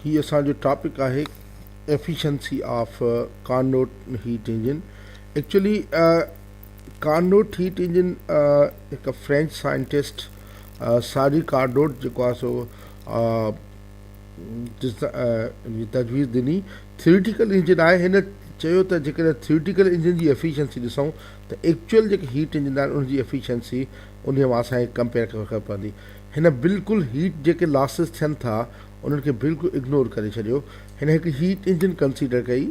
هي اسان جو ٽاپڪ آهي efficiency of Carnot heat engine actually Carnot heat engine هڪ فرينچ سائنٽسٽ ساري ڪارنوٽ جيڪو آهي سو تجويز ڏني ٿيوريٽيڪل انجن آهي هن چيو ته جيڪڏهن ٿيوريٽيڪل انجن جي ايفيشنسي ڏسون ته ايڪچوئل جيڪي هيٽ انجن آهن ان جي ايفيشنسي ان مان اسانکي ڪمپيئر ڪرڻ پوندي هن بلڪل هيٽ جيڪي لاسز ٿين ٿا انهن کي بلڪل اگنور ڪري ڇڏيو هن هڪ هيٽ انجن ڪنسيڊر ڪئي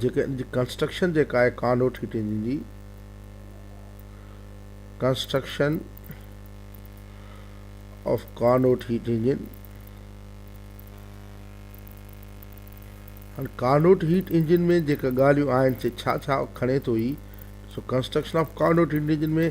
جيڪا ان جي ڪنسٽرڪشن جيڪا آهي ڪارنوٽ هيٽ انجن جي construction of Carnot heat engine هاڻي ڪارنوٽ هيٽ انجن ۾ جيڪا ڳالهيون آهن سي ڇا ڇا کڻي ٿو هي سو construction of Carnot heat engine ۾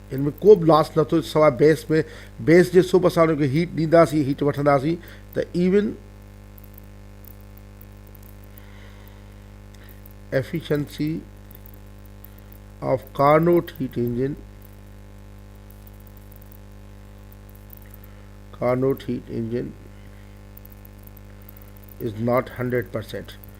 هن ۾ ڪو به لاس نه ٿو سواء بيس ۾ بيس جي سوب اسان انهن کي هيٽ ڏينداسين هيٽ وٺنداسين ته even efficiency of Carnot heat engine Carnot heat engine is not hundred percent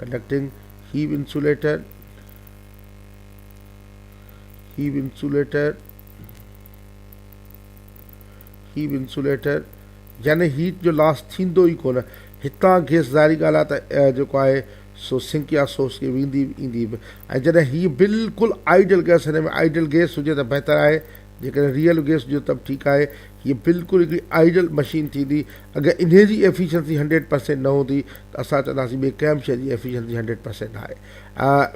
conducting have insulator have insulator have insulator يعني هيٽ جو لاس ٿيندو ئي ڪونه هتان گيس ظاهري ڳالهه آهي ته جيڪو آهي سو سنڪ يا سوس کي ويندي ايندي به ۽ جڏهن هي بلڪل آئيڊل گيس هن ۾ آئيڊل گيس هجي ته بهتر آهي جيڪڏهن ريئل گيس جو تب ٺيڪ آهي هيء بلڪل هڪڙي آئيڊل مشين ٿيندي اگر انهي جي ايفيشنسي هنڊريڊ پرسينٽ نه هوندي ته اسان چونداسين ٻئي ڪنهن به شيء جي ايفيشنسي هنڊريڊ پرسينٽ آهي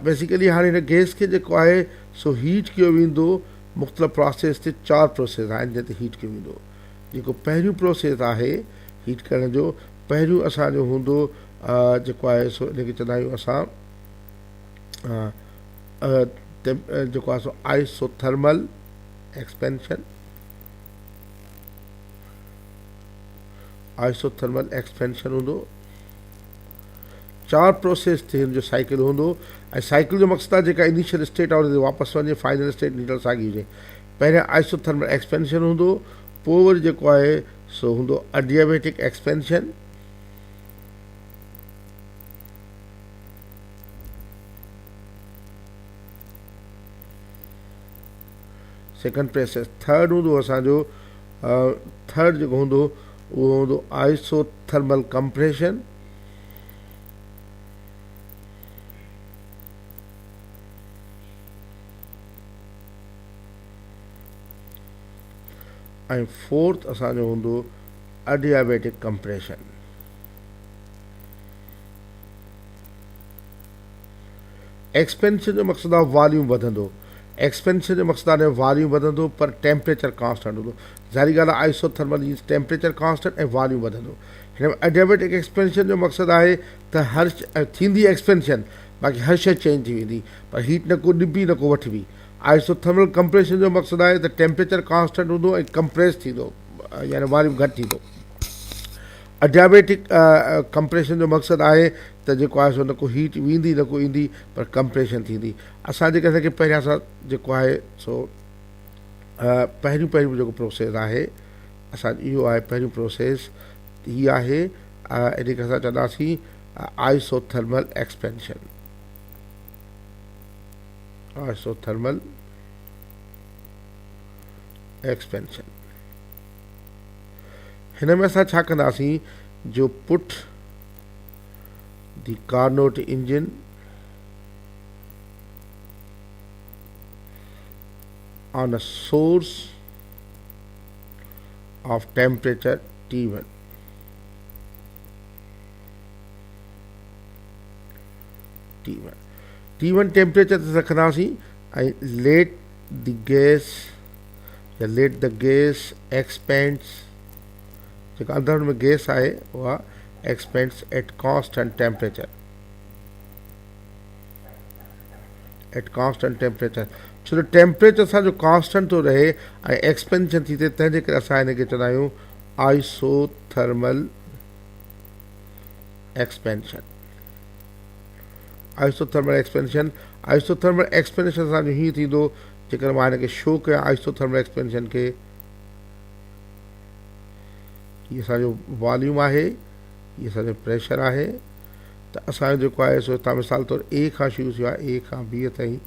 بيسيڪلي هاڻي هن گيس کي جيڪو آهي سو هيٽ ڪيو ويندو مختلف پراسيس تي چار پروسيس آهن جنهن تي هيٽ ڪيو ويندو جيڪو پهريون پروسيس آهي هيٽ ڪرڻ جو پهريون اسان جو هوندو جيڪو آهي سو ان کي چوندا آهيون اسان جيڪو آهي سو آئسوٿرمل ايڪسپينشن آئسوٿرمل ايڪسپينشن هوندو چار پروسيس تي هن جو سائيڪل هوندو ۽ سائيڪل جو مقصد آهي جيڪا انيشل اسٽيٽ آهي ان تي واپس وڃي فائنل اسٽيٽ نيوٽرل ساڳي هجي پهريان آئسوٿرمل ايڪسپينشن هوندو پوء وري جيڪو آهي سو هوندو adiabatic expansion second press third هوندو اسان جو ٿرڊ جيڪو هوندو اهو هوندو آئسو ٿرمل ڪمپريشن ۽ فورٿ اسان جو هوندو اڊيابيٽڪ ڪمپريشن ايڪسپينشن جو مقصد آهي واليوم وڌندو ايڪسپينشن جو مقصد آهي واليوم وڌندو پر ٽيمپريچر ڪانسٽنٽ هوندو ظاهري ڳالهه آهي آئسو ٿرمل جينز ٽيمپريچر ڪانسٽنٽ ۽ واليوم وڌندو هن ۾ ايڊيابيٽڪ ايڪسپينشن جو مقصد آهي ته هر ٿيندي ايڪسپينشن باقي هر شيء چينج ٿي ويندي پر هيٽ نه ڪو ڏبي نه ڪو وٺبي آئسو ٿرمل ڪمپريشن جو مقصد آهي ته ٽيمپريچر ڪانسٽنٽ هوندو ۽ ڪمپريس ٿيندو يعني واليوم گهٽ ٿيندو اڊيابيٽڪ ڪمپريشن جو مقصد آهي ته جيڪو آهي سو نه ڪو هيٽ ويندي نه ڪو ايندي پر ڪمپريشن ٿيندي اسان جيڪي اسان کي پهريان سان جيڪو آهي سو پهريون پهريون جيڪو پروسيس آهي اسان اهو آهي پهريون پروسيس هي آهي ان کي اسان چونداسين isothermal expansion isothermal expansion هن ۾ اسان ڇا ڪنداسين جو put the Carnot engine on a source of temperature T one T one T one temperature تي رکنداسين ۽ ليٽ دي گيس يا ليٽ دي گيس ايڪسپينڊز جيڪا اندر ۾ گيس آهي اها expands at cost and temperature at cost and temperature ڇو جو ٽيمپريچر اسان جو ڪانسٽنٽ ٿو رهي ۽ ايڪسپينشن ٿي ٿئي تنهن جي ڪري اسان هن کي چوندا آهيون isothermal expansion isothermal expansion isothermal expansion اسان جو هيئن ٿيندو جيڪڏهن مان هن کي شو ڪيان آئسو ٿرمل ايڪسپينشن کي هي اسان جو واليوم آهي هي اسان جو پريشر آهي ته اسان جو جيڪو آهي سو هتان مثال طور اي کان شروع ٿيو آهي اي کان بي تائين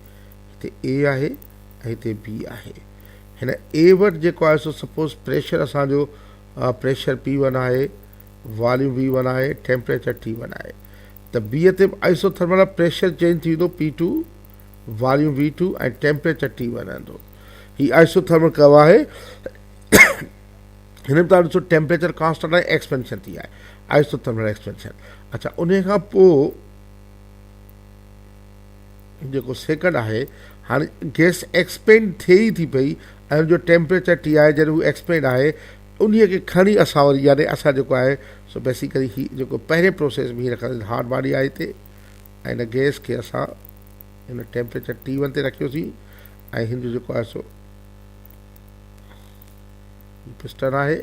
هتي اي آهي ۽ هتي بي آهي هن اي وٽ جيڪو آهي سو سپوز پريشر اسان جو پريشر پي ون آهي واليوم وي ون آهي ٽيمپريچر ٽي ون آهي ته بي تي آئسو ٿرمل پريشر چينج ٿي ويندو پي ٽو واريون ويٺون ۽ ٽيمپريچر ٽي وئي رهندو. هي آئسوٿرمل ڪرو آهي. هن ۾ توهان ڏسو ٽيمپريچر ڪانسٽنٽ ۽ ايڪسپينشن ٿي آهي. آئسوٿرمل ايڪسپينشن اڇا ان کان پوء جيڪو سيڪنڊ آهي هاڻي گيس ايڪسپينڊ ٿئي ئي ٿي پئي ۽ ان جو ٽيمپريچر ٽي آهي جڏهن هو ايڪسپينڊ آهي ان کي کڻي اسان وري يعني اسان جيڪو آهي سو بيسيڪلي هي جيڪو پهرين پروسيس ۾ هي رکنداسين هاٽ باڊي آهي هتي هن گئس کي اسان هن ٽيمپريچر ٽي ون تي رکيوسين ۽ هن جو جيڪو آهي سو پسٽن آهي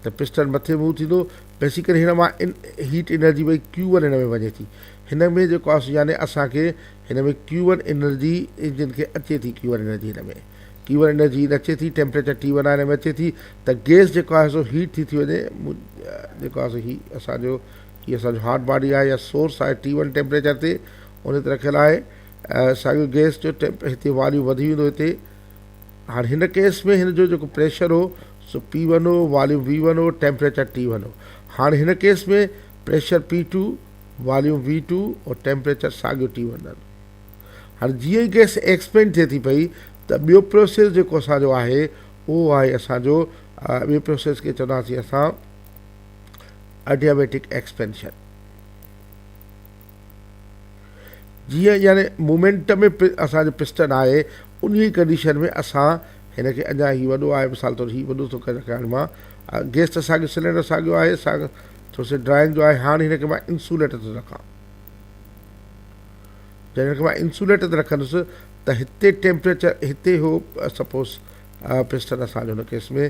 ته پسٽن مٿي موو ٿيندو بيسي ڪري هن مان ان هيٽ انرجي وئي ڪيو ون هن ۾ وڃي ٿي هن ۾ جيڪو آهي سو يعني اسانکي هن ۾ ڪيو ون انرجي انجن کي اچي ٿي ڪيو ون انرجي هن ۾ ڪيو ون انرجي نه اچي ٿي ٽيمپريچر ٽي ون آهي هن ۾ اچي ٿي ته گئس جيڪو آهي سو هيٽ ٿي ٿي وڃي جيڪو آهي سو هي اسانجو هي اسان جو هاٽ باڊي آهي يا سورس آهي ٽي ون ٽيمپريچر تي ان تي رکيل آهي ساڳيو گيس جو ٽيمپ هتي واليو وڌي ويندو هتي هاڻي هن ڪيس ۾ هن جو جيڪو پريشر هو سو پي ون هو واليوم وي ون هو ٽيمپريچر ٽي ون هو هاڻي هن case ۾ pressure P two volume V two اور ٽيمپريچر ساڳيو ٽي ون رهندو هاڻي جيئن ئي گيس ايڪسپينڊ ٿئي ٿي پئي ته ٻيو پروسيس جيڪو اسانجو آهي اهو آهي اسانجو ٻي پروسيس کي چونداسين اسان Adiabatic Expansion جيئن يعني مومينٽم ۾ اسان جو پسٽن آهي انهي ڪنڊيشن ۾ اسان هن کي اڃا هي وڏو آهي مثال طور هي وڏو ٿو ڪري رکان مان گيس ته ساڳيو سلينڊر ساڳيو آهي ساڳيو ٿو سي ڊرائنگ جو آهي هاڻ هن کي مان انسوليٽر ٿو رکان جڏهن هن کي مان انسوليٽر تي رکندس ته هتي ٽيمپريچر هتي هو سپوز پسٽن اسان جو هن ڪيس ۾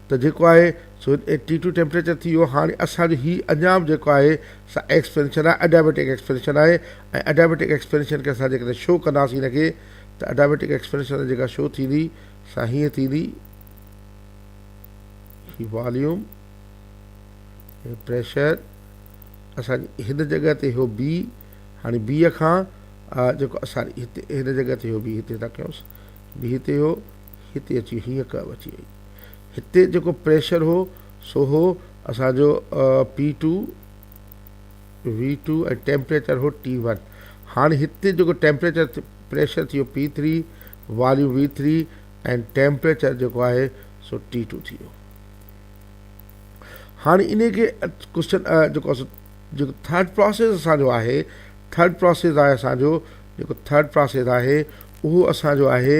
ته جيڪو آهي سو ٽي ٽو ٽيمپريچر ٿي ويو هاڻي اسان جو هي اڃا به جيڪو آهي سا ايڪسپينشن آهي اڊيابيٽڪ ايڪسپينشن آهي ۽ اڊيابيٽڪ ايڪسپينشن کي اسان جيڪڏهن شو ڪنداسين هن کي ته اڊيابيٽڪ ايڪسپينشن جيڪا شو ٿيندي سا هيئن ٿيندي هي واليوم هي پريشر اسان جي هن جڳهه تي هو بي هاڻي بي کان جيڪو اسان هتي هن جڳهه تي هو بي هتي ٿا ڪيونس بي هتي هو هتي اچي هيئن ڪرو اچي وئي هتي جيڪو پريشر هو سو هو اسان جو P two V two ۽ temperature هو ٽي ون هاڻي هتي جيڪو ٽيمپريچر پريشر ٿيو P three volume V three ۽ temperature جيڪو آهي سو ٽي ٽو ٿي ويو هاڻي ان کي ڪوشچن جيڪو جيڪو ٿرڊ پروسيس اسانجو آهي ٿرڊ پروسيس آهي اسانجو جيڪو ٿرڊ پروسيس آهي اهو اسانجو آهي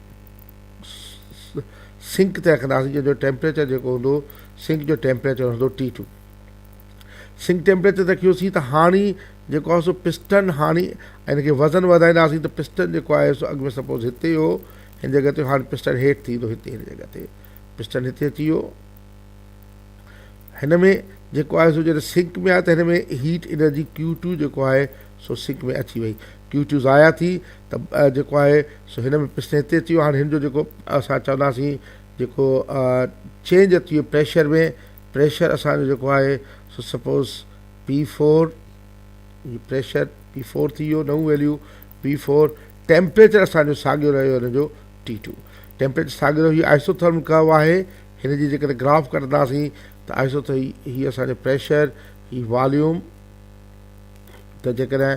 سنڪ تي رکنداسين جنهن جو ٽيمپريچر جيڪو هوندو سنڪ جو ٽيمپريچر هوندو ٽي ٽو سنڪ ٽيمپريچر تي رکيوسين ته هاڻي جيڪو آهي سو پسٽن هاڻي ان کي وزن وڌائينداسين ته پسٽن جيڪو آهي سو اڳ ۾ سپوز هتي هو هن جڳهه تي هاڻي پسٽن هيٺ ٿي ويندو هتي هن جڳهه تي پسٽن هتي اچي ويو هن ۾ جيڪو آهي سو جڏهن سنڪ ۾ آهي ته هن ۾ هيٽ انرجي ڪيو ٽو جيڪو آهي سو سنڪ ۾ اچي وئي ڪيو ٽو ضايع ٿي ته جيڪو آهي سو هن ۾ پسٽن هتي اچي ويو هاڻي هن جو جيڪو اسان چونداسين جيڪو چينج اچي ويو پريشر ۾ پريشر اسانجو جيڪو آهي سو سپوز پي فور هي پريشر پي فور ٿي ويو نئون ويليو پي فور ٽيمپريچر اسانجو ساڳيو رهيو هن جو ٽي ٽو ٽيمپريچر ساڳيو رهيو آئسو تھرمل ڪرو آهي هن جي جيڪڏهن گراف ڪڍنداسين ته آهستو ته هي اسان جو پريشر هي واليوم ته جيڪڏهن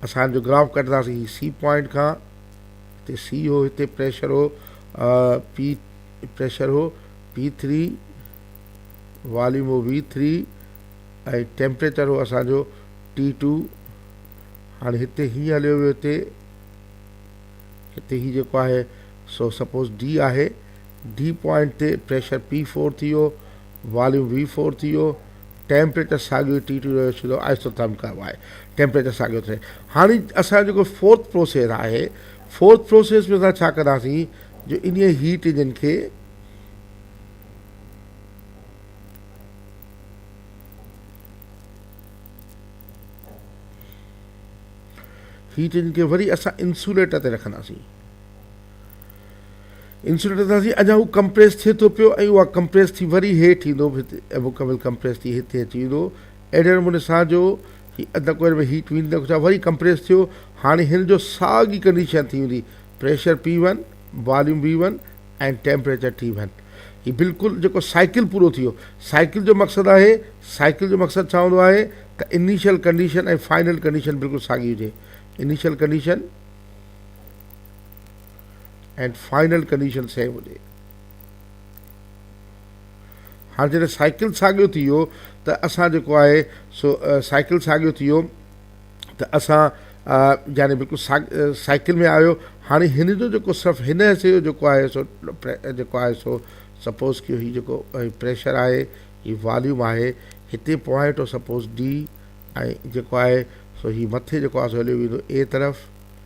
اسان جو گراف ڪڍنداسين هي سي پوائنٽ کان هتي سي هو هتي پريشر هو پي پريشر هو پي ٿري واليوم هو وي ٿري ۽ ٽيمپريچر هو اسان جو ٽي ٽو هاڻي هتي هي هليو ويو هتي هتي هي جيڪو آهي سو سپوز ڊي آهي ڊي پوائنٽ تي پريشر پي فور ٿي ويو، واليوم وي فور ٿي ويو، ٽيمپريچر ساڳيو ٽي ٽو رهيو سڌو آئسوٿرم ڪئو آهي ٽيمپريچر ساڳيو ٿئي هاڻي اسان جيڪو فورٿ پروسيس آهي فورٿ پروسيس ۾ اسان ڇا ڪنداسين جو انهي هيٽ انجن کي هيٽ انجن کي وري اسان انسوليٽر تي رکنداسين انسوليٽر سان سي اڃا هو ڪمپريس ٿئي ٿو پيو ۽ اها ڪمپريس ٿي وري هيٺ ايندو به هتي ۽ مڪمل ڪمپريس ٿي هتي اچي ويندو اهڙي نموني سان جو هي اڌ ڪوئل ۾ هيٽ ويندي ڇا وري ڪمپريس ٿيو هاڻي هن جو ساڳي ڪنڊيشن ٿي ويندي pressure P one volume V one ۽ temperature T one هي بلڪل جيڪو سائيڪل پورو ٿي ويو سائيڪل جو مقصد آهي سائيڪل جو مقصد ڇا هوندو آهي ته انيشل ڪنڊيشن ۽ فائنل ڪنڊيشن بلڪل ساڳي هجي initial condition and final condition same هجي هاڻ جڏهن سائيڪل ساڳيو ٿي ويو ته اسان جيڪو آهي سو سائيڪل ساڳيو ٿي ويو ته اسان يعني بلڪل سائيڪل ۾ آيو هاڻي هن جو جيڪو صرف هن حصي جو جيڪو آهي سو جيڪو آهي سو سپوز ڪيو هي جيڪو پريشر آهي هي واليوم آهي هتي پوائنٽ آف سپوز ڊي ۽ جيڪو آهي سو هي مٿي جيڪو آهي سو هليو ويندو اي طرف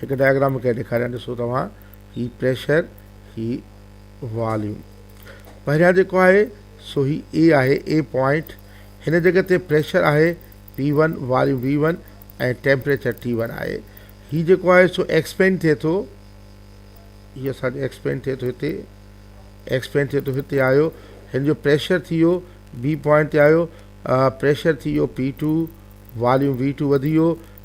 هڪ ڊائگرام مون کي ڏيکاريان ڏسو توهان هي پريشر هي واليوم پهريان جيڪو آهي سو هي اي آهي اي پوائنٽ هن جڳھ تي پريشر آهي P one volume V one ۽ temperature T one آهي هي جيڪو آهي سو ايڪسپينڊ ٿئي ٿو هي اسانجو ايڪسپينڊ ٿئي ٿو هتي ايڪسپينڊ ٿئي ٿو هتي آيو هن جو پريشر ٿي ويو بي پوائنٽ تي آيو پريشر ٿي ويو P two volume V two وڌي ويو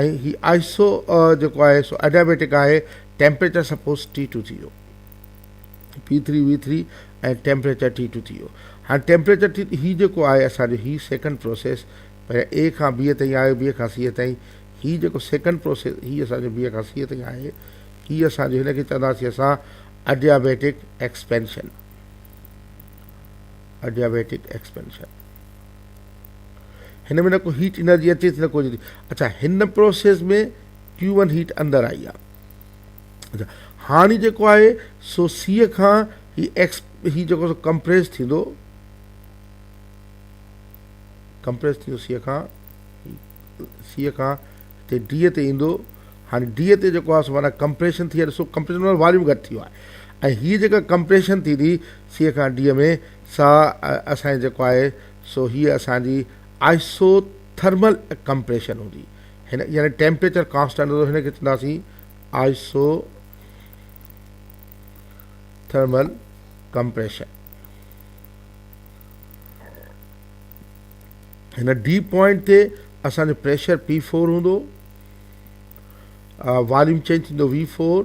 ۽ هي آهستو جيڪو آهي سو ايڊيابيٽڪ آهي ٽيمپريچر سپوز ٽي ٽو ٿي ويو P three V three ۽ temperature T two ٿي ويو هاڻي ٽيمپريچر ٽي هي جيڪو آهي اسان جو هي سيڪنڊ پروسيس پهريان اي کان بي تائين آيو بي کان سي تائين هي جيڪو سيڪنڊ پروسيس هي اسان جو بي کان سي تائين آهي هي اسان جو هن کي چونداسي اسان اڊيابيٽڪ ايڪسپينشن اڊيابيٽڪ ايڪسپينشن هن ۾ نه ڪو هيٽ انرجي اچي ٿي نه ڪو اچا هن پروسيس ۾ ڪيو ون هيٽ اندر آئي آهي هاڻي جيڪو آهي سو سيء کان هي ايڪس هي جيڪو سو ڪمپريس ٿيندو ڪمپريس ٿيندو سيء کان سيء کان هتي ڊي تي ايندو هاڻي ڊي تي جيڪو آهي سو معنی ڪمپريشن ٿي ڏسو ڪمپريشن واريون گهٽ ٿيو آهي ۽ هي جيڪا ڪمپريشن ٿي ٿي سيء کان ڊي ۾ سا اسان جي جيڪو آهي سو هيء اسان جي آئسو ٿرمل ڪمپريشن هوندي هن يعني ٽيمپريچر ڪانسٽنٽ هوندو هن کي چونداسين آئسو ٿرمل ڪمپريشن هن ڊي پوائنٽ تي اسان جو پريشر پي فور هوندو واليوم چينج ٿيندو وي فور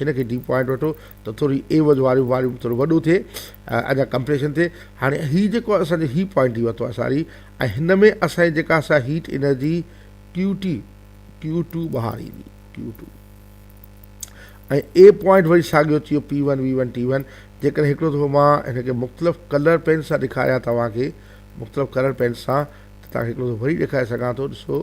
هن کي ڊيپ پوائنٽ وٺو ته ٿوري عيوض واريون واريون ٿورو وڏو ٿئي ادا ڪمپريشن ٿئي هاڻي هي جيڪو اسان جو هي پوائنٽ ٿي ورتو ساري ۽ هن ۾ اسان جي جيڪا اسا heat energy Q T Q two ٻاهر ايندي ڪيو ٽو ۽ اي پوائنٽ وري ساڳيو ٿيو P one V one T one جيڪڏهن هڪڙو دفعو مان هن کي مختلف کلر پين سان ڏيکاريا توهان کي مختلف کلر پين سان ته توهان کي هڪڙو دفعو وري ڏيکاري سگهان ٿو ڏسو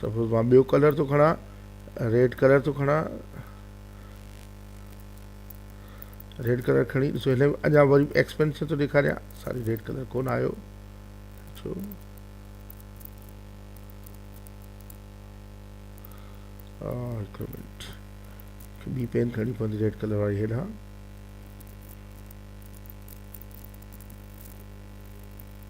سپوز مان ٻيو ڪلر ٿو کڻان ريڊ ڪلر ٿو کڻان ريڊ ڪلر کڻي ڏسو هن ۾ اڃا وري ايڪسپينشن ٿو ڏيکاريان ساري ريڊ ڪلر ڪون آيو ڇو هڪ منٽ ٻي پين کڻي پوندي ريڊ ڪلر واري هيڏانهن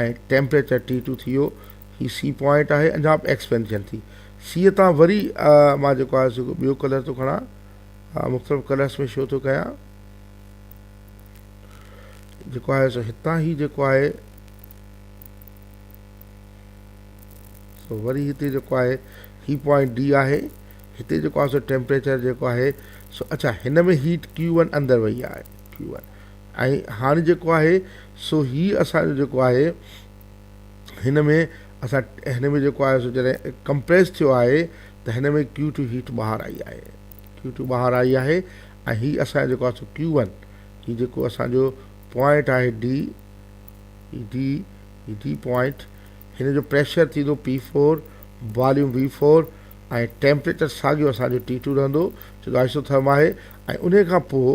۽ ٽيمپريچر ٽي ٽو ٿي ويو هي سي پوائنٽ آهي اڃا به ايڪسپينشن ٿي سي تان وري مان جيڪو آهي سو ٻيو ڪلر ٿو کڻا مختلف ڪلرس ۾ شو ٿو ڪيان جيڪو آهي سو هتان هي جيڪو آهي سو وري هتي جيڪو آهي هي پوائنٽ ڊي آهي هتي جيڪو آهي سو ٽيمپريچر جيڪو آهي سو اچھا هن ۾ هيٽ ڪيو ون اندر وئي آهي ڪيو ون ۽ هاڻي جيڪو آهي سو هي اسان جو جيڪو آهي هن ۾ اسان هن ۾ جيڪو آهي سو جڏهن ڪمپريس ٿيو آهي ته هن ۾ ڪيو ٽو هيٽ ٻاهر آئي آهي ڪيو ٽو ٻاهر آئي آهي ۽ هي اسان جو جيڪو آهي سو ڪيو ون هي جيڪو اسان جو پوائنٽ آهي ڊي ڊي ڊي پوائنٽ هن جو پريشر ٿيندو P four volume V four ۽ temperature ساڳيو اسان جو ٽي ٽو رهندو ڇو جو آئسو ٿرم آهي ۽ ان کان پوء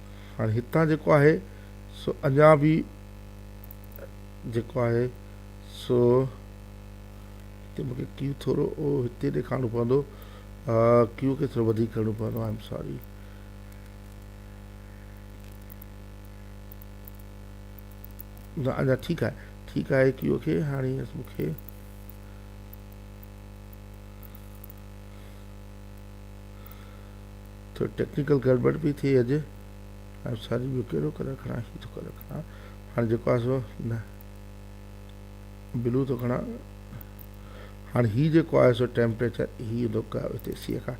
هاڻي هتان جيڪو آهي سو اڃا به جيڪو آهي سو هتي مون کي ڪيو ٿورو هتي ڏيکارڻو پوندو ڪيو کي ٿورو وڌيڪ ڪرڻو پوندو آء ايم ساري نه اڃا ٺيڪ آهي ٺيڪ آهي ڪيو کي هاڻي مون کي ٿوري ٽيڪنيڪل گڙٻڙ پئي ٿئي اڄ آئون ساري ٻيو ڪهڙو ڪلر کڻان هي ٿو ڪلر کڻان هاڻي جيڪو آهي سو نه بلو ٿو کڻان هاڻي هي جيڪو آهي سو ٽيمپريچر هي ايندو هتي سيء کان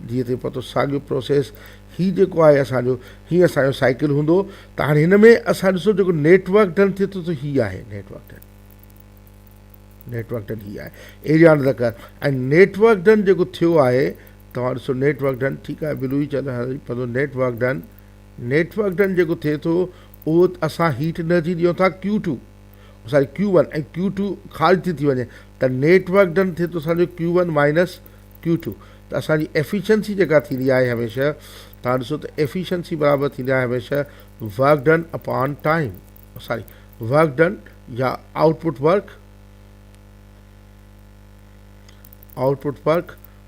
جيئن تي پتو ساڳيو پروسيس هي جيڪو آهي اسانجو هي اسانجو سائيڪل هوندو ته هاڻي هن ۾ اسان ڏسو جيڪو نيٽورڪ ڊن ٿئي ٿو سو هي آهي نيٽورڪ ڊن نيٽورڪ ڊن هي آهي ايريا ڊن ذڪر ۽ نيٽورڪ ڊن جيڪو ٿيو آهي توهان ڏسو نيٽ ورڪ ڊن ٺيڪ آهي بلوي چئل هاري پندو net work done net work done جيڪو ٿئي ٿو اهو اسان هيٽ انرجي ڏيون ٿا ڪيو ٽو ساري ڪيو ون ۽ ڪيو ٽو خارج ٿي ٿي وڃي ته نيٽ ورڪ ڊن ٿئي ٿو اسانجو Q one minus Q two ته اسانجي ايفيشنسي جيڪا ٿيندي آهي هميشه توهان ڏسو ته ايفيشنسي برابر ٿيندي آهي هميشه ورڪ ڊن اپان ٽائيم ساري ورڪ ڊن يا output work output work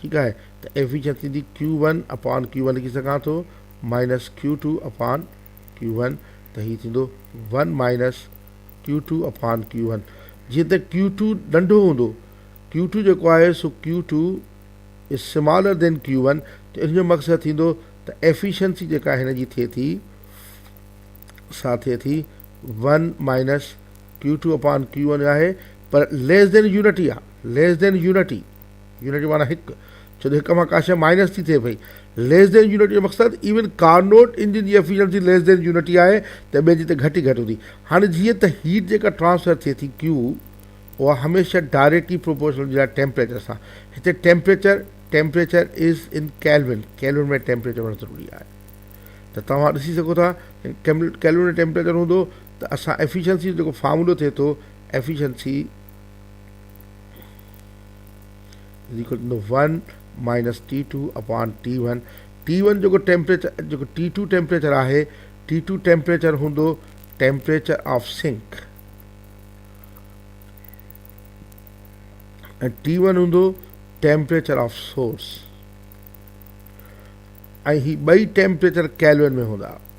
ٺيڪ آهي ته ايفيشنسي ٿيندي Q one upon Q one لکي سگهان ٿو minus Q two upon Q one ته هي ٿيندو one minus Q two upon Q one جيئن ته ڪيو ٽو ننڍو هوندو ڪيو ٽو جيڪو آهي سو ڪيو ٽو از سمالر دين ڪيو ون ته ان جو مقصد ٿيندو ته ايفيشنسي جيڪا هن جي ٿئي ٿي سا ٿئي ٿي one minus Q two upon Q one آهي پر ليس دين يونٽي آهي ليس دين يونٽي يونٽ معنيٰ هڪ، ڇو ته هڪ مان ڪا شيء مائنس ٿي ٿئي پئي. ليس دين يونٽ جو مقصد ايون ڪارنوٽ انجن جي افيشنسي ليس دين يونٽ ئي آهي ته ٻين جي ته گهٽ ئي گهٽ هوندي. هاڻي جيئن ته هيٽ جيڪا ٽرانسفر ٿئي ٿي Q اها هميشه ڊائريڪٽلي پروپورشنل هوندي آهي ٽيمپريچر سان. هتي temperature, Temperature، is in kelvin, kelvin ۾ temperature هئڻ ضروري آهي. ته توهان ڏسي سگهو ٿا ته ڪيلون ۾ ٽيمپريچر هوندو ته اسان افيشنسي جو جيڪو فارمولو ٿئي ٿو efficiency, is equal to one minus T two upon T one T one جيڪو ٽيمپريچر جيڪو ٽي ٽو ٽيمپريچر آهي ٽي ٽو ٽيمپريچر هوندو temperature of sink ۽ T one هوندو ٽيمپريچر آف سورس ۽ هي ٻئي ٽيمپريچر ڪيلون ۾ هوندا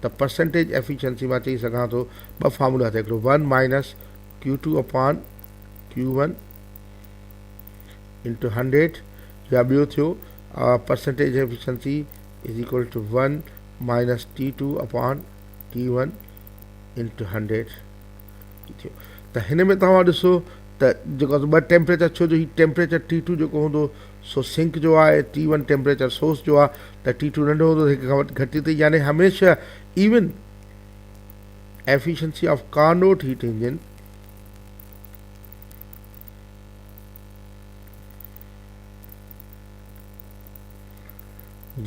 ته پرسنٽيج ايفيشنسي مان چئي سگهان ٿو ٻه فارمولا هٿ هڪڙو one minus Q two upon Q one into hundred يا ٻيو ٿيو percentage efficiency is equal two one minus T two upon T one into hundred ٿيو ته هن ۾ توهان ڏسو ته جيڪو ٻه ٽيمپريچر ڇو جو هي ٽيمپريچر ٽي ٽو جيڪو هوندو سو سنڪ جو آ ۽ ٽي ون ٽيمپريچر سورس جو آ ته ٽي ٽو ننڍو هوندو ته هڪ کان وٽ گهٽ ٿي يعني هميشه even efficiency of Carnot heat engine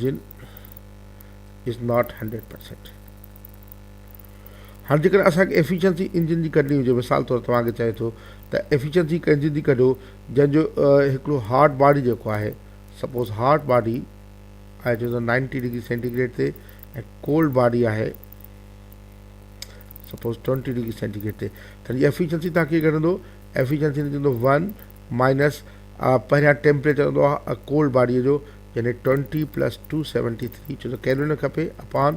جن از ناٽ هنڊريڊ پرسينٽ هاڻي جيڪڏهن اسان کي ايفيشنسي انجن جي ڪڍڻي هجي مثال طور توهان کي چئي ٿو ته ايفيشنسي هڪ انجن جي ڪڍو جنهن جو هڪڙو هارڊ باڊي جيڪو آهي سپوز هارڊ باڊي آهي جيڪو نائنٽي ڊگري سينٽي گريڊ تي ۽ ڪولڊ باڊي آهي suppose twenty degree centigrade تي ته هن جي ايفيشنسي تان ڪيئن ڪڍندو ايفيشنسي هن چوندو ون مائنس پهريان ٽيمپريچر هوندو آهي ڪولڊ باڊيء جو يعني twenty plus two seventy three ڇو جو ڪيلوري نه کپي اپان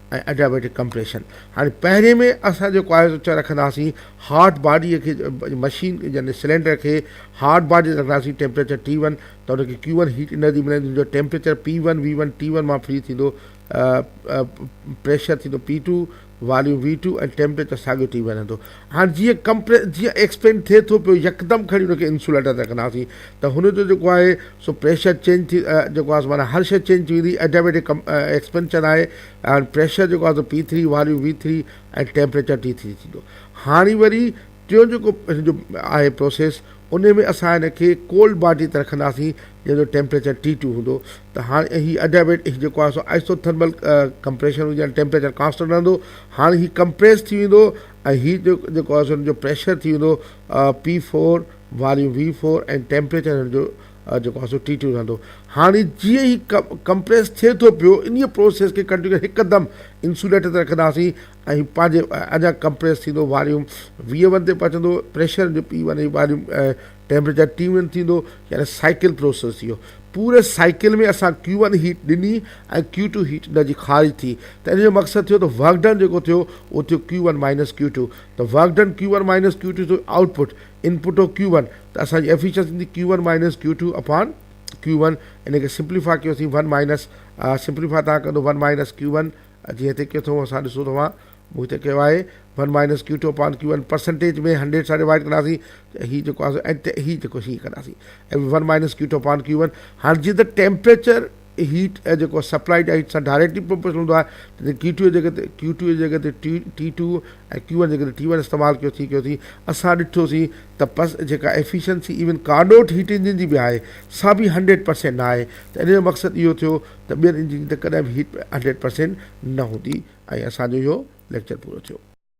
۽ ايڊيابيٽڪ ڪمپريشن هاڻي پهرين ۾ اسان جيڪو آهي سو رکنداسين هارٽ باڊي کي مشين يعني سلينڊر کي هارٽ باڊي رکنداسين ٽيمپريچر ٽي ون ته ان کي ڪيو ون هيٽ انرجي ملندي جن جو temperature P one V one T one مان فري ٿيندو پريشر ٿيندو P two volume V two ۽ temperature ساڳيو ٽي ون رهندو هاڻ جيئن ڪمپريس جيئن ايڪسپينڊ ٿئي ٿو پيو يڪدم کڻي ان کي انسوليٽر تي رکنداسين ته هن جو جيڪو آهي سو پريشر چينج ٿي جيڪو آهي سو معنيٰ هر شيء چينج ٿي ويندي ايڊيويٽڪ ڪم ايڪسپينشن آهي هاڻ پريشر جيڪو آهي سو P three volume V three ۽ temperature T three ٿيندو هاڻي وري ٽيون جيڪو هن جو آهي پروسيس انهي ۾ اسان هن کي ڪولڊ باڊي تي رکنداسين جنهن جو ٽيمپريچر ٽي ٽو هوندو ته هاڻي ۽ هي اڊيابيٽ هي جيڪو آهي سو آئسو ٿرمل ڪمپريشن هوندي يعني ٽيمپريچر ڪانسٽنٽ رهندو هاڻي هي ڪمپريس ٿي ويندو ۽ هي جو جيڪو آهي سو هن جو پريشر ٿي ويندو P four volume V four ۽ temperature هن جو جيڪو آهي سو ٽي ٽو رهندو هاڻي جيئن هي ڪمپريس ٿئي ٿو پيو انهي پروسيس کي ڪنٽينيو هڪدم انسوليٽر تي رکنداسين ۽ پنهنجي اڃا ڪمپريس ٿيندو واريوم ويهه ون تي پهچندو پريشر جو P one ۽ volume temperature T one ٿيندو يعني سائيڪل پروسيس ٿيو پوري سائيڪل ۾ اسان ڪيو ون هيٽ ڏني ۽ ڪيو ٽو هيٽ ان جي خارج ٿي ته ان جو مقصد ٿيو ته ورڪ ڊن جيڪو ٿيو اهو ٿيو Q one minus Q two ته work done Q one minus Q two ٿيو آئوٽ پٽ ان پٽ هو ڪيو ون ته اسان جي ايفيشنسي ٿيندي Q one minus Q two upon Q one ان کي سمپليفاء ڪيوسين ون مائنس سمپليفاء تان ڪندو ون مائنس ڪيو ون اچي هتي ڪيو ٿو اسان ڏسون ٿا مان مون هتي ڪيو آهي one minus Q two upon Q one percentage ۾ hundred سان ڊوائيڊ ڪنداسين ته هي جيڪو آسان ۽ هي جيڪو هي ڪنداسين ۽ one minus Q two upon Q one هاڻي جي ته ٽيمپريچر هيٽ ۽ جيڪو سپلائيڊ هيٽ سان ڊائريڪٽلي پروپورشنل هوندو آهي ته ڪيو ٽو جي جڳهه تي ڪيو ٽو جي جڳهه تي T T two ۽ Q one جي جڳهه تي ٽي ون استعمال ڪيو ٿي ڪيو ٿي اسان ڏٺوسين ته پس جيڪا efficiency even Carnot heat engine جي به آهي سا به هنڊريڊ پرسينٽ نه آهي ته ان جو مقصد اهو ٿيو ته ٻين انجنين ته ڪڏهن به هيٽ هنڊريڊ پرسينٽ نه هوندي ۽ اسان جو اهو ليڪچر پورو ٿيو.